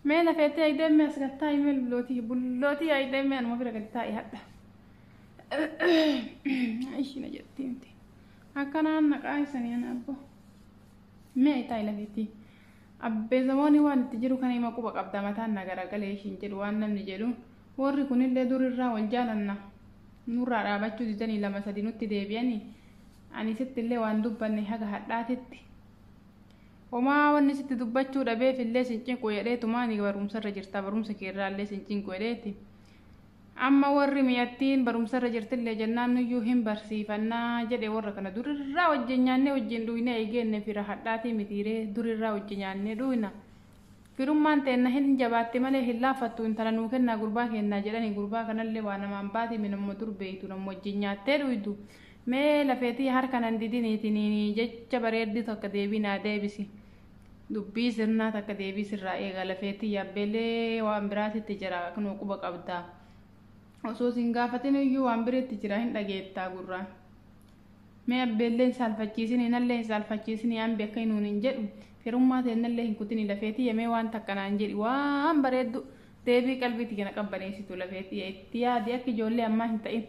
Mee lafeettee ayideemme as gad taa'i mee bullootii bullootii ayideemme anuma bira gad taa'i hadha. Ishii na jetti miti. Akkanaan naqaa isanii ana abbo. Mee taa'i lafeettii. Abbee zamoonii waan itti jiru kana hima quba qabda mataan na garagalee ishiin jedhu waan namni jedhu warri kunillee durirraa wal jaalanna nurraa dhaabachuu didanii lama sadi nutti deebi'anii ani sittillee waan dubbanne haga hadhaatitti Homaa wanni sitti dubbachuu dhabeef illee sin cinqu jedheetumaani barumsarra jirta barumsa keerraa illee sin cinqu jedheeti. Amma warri miyattiin barumsarra jirtillee jennaan nuyyuu hin barsiifannaa jedhe warra kana durirraa wajjin nyaannee wajjin dhuynee eegeenne fira hadhaatii mitiiree durirraa wajji nyaannee dhuyna. Firummaan teenna hin jabaatti malee hin laaffattu intala nuu kennaa gurbaa keennaa jedhani gurbaa kanallee waa namaan baati minamma dur beeytu nam wajjin nyaattee dhuydu Mee lafee tiya harka nan didini tinini jecha bareeddu takka deebii naa deebisi dubbii sirnaa takka deebii sirraa eega lafee tiya abbeelee waan biraatitti jira kunoo quba qabda osoo sin gaafatinu iyyuu waan biritti jira hin dhageettaa gurraan mee abbeellee hin saalfachiisini nallee hin saalfachiisini ambi akka hinuun hin jedhu firummaa teennallee hin kutini lafee tiya mee waan takka naan jedhi waan bareeddu deebii qalbii tiya na qabbaneessitu lafee tiya itti yaadi akka ijoollee ammaa hin ta'in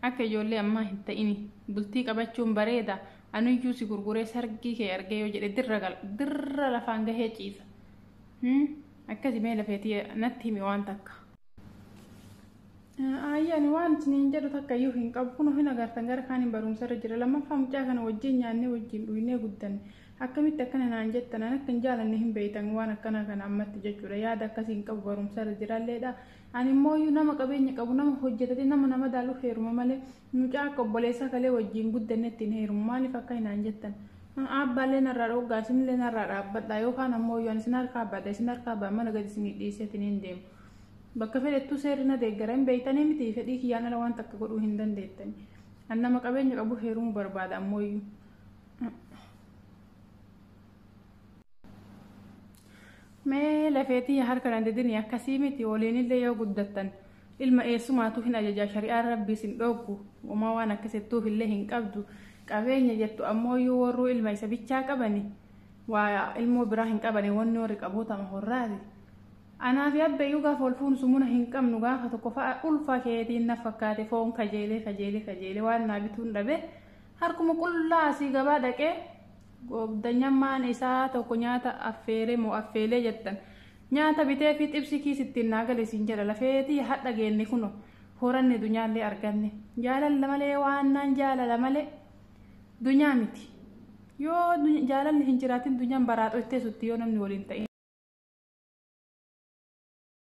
Akka ijoollee ammaa hin ta'ini. Bultii qabachuun bareeda. Anuyyuu si gurguree sargii kee argee yoo jedhe dirra gala. Dirra lafaan gahee ciisa. Hmm? Akkasi mee lafeetii natti himi waan takka. Aayyi ani waan isiniin jedhu takka iyyuu hin qabu. Kunoo hin agartan gara kaaniin barumsa irra jira. Lammaffaa mucaa kana wajjin nyaannee wajjin dhugnee guddanne. Akkamitti akkana naan jettan an akka hin jaalanne hin beektan waan akkanaa kana ammatti jechuudha. Yaada akkasii hin qabu barumsa irra jiralleedha. Ani immooyyuu nama qabeenya qabu nama hojjetatee nama na madaaluuf heeruma malee mucaa akka obboleessaa kalee wajjiin guddannetti hin heerumu maaliif akka hinaan jettan aabbaallee narraa dhoggaa isinillee narraa dhaabbadhaa yookaan ammooyyuu ani isin harkaa baadha isin harkaa baa mana gadi isinii dhiiseetiin hin deemu bakka fedhettuu seerri na deeggara hin beeytanii miti fedhii kiyyaan ala waan takka godhuu hin dandeettani an nama qabeenya qabu heerumuu barbaada ammooyyuu mee lafeetii harka na didini akkasii miti waliinillee yoo guddattan ilma eessumaatu hin ajajaa shari'aan rabbiis hin dhooggu uumaa waan akkasittuuf illee hin qabdu qabeenya jettu ammoo yoo warruu ilma isa bichaa qabani waa ilmoo biraa hin qabani wanni warri qabootama horraati anaa fi abbayyuu gaafa wal fuunu sumuna hin qabnu gaafa tokko fa'a ulfa keetiin na fakkaate foon kajeelee kajeelee kajeelee waan naa bituun dhabe harkuma qullaa asii gabaa dhaqee Goobdanyammaan isaa tokko nyaata affeere moo affeelee jettan nyaata bitee fi xibsi kiis ittiin naa gale siin jedha lafee tiyya hadha geenne kuno horanne dunyaallee arganne jaalalla malee waannaan jaalala male dunyaa miti yoo jaalalli hin jiraatin dunyaan baraaxo ittee sutti yoo namni waliin ta'in.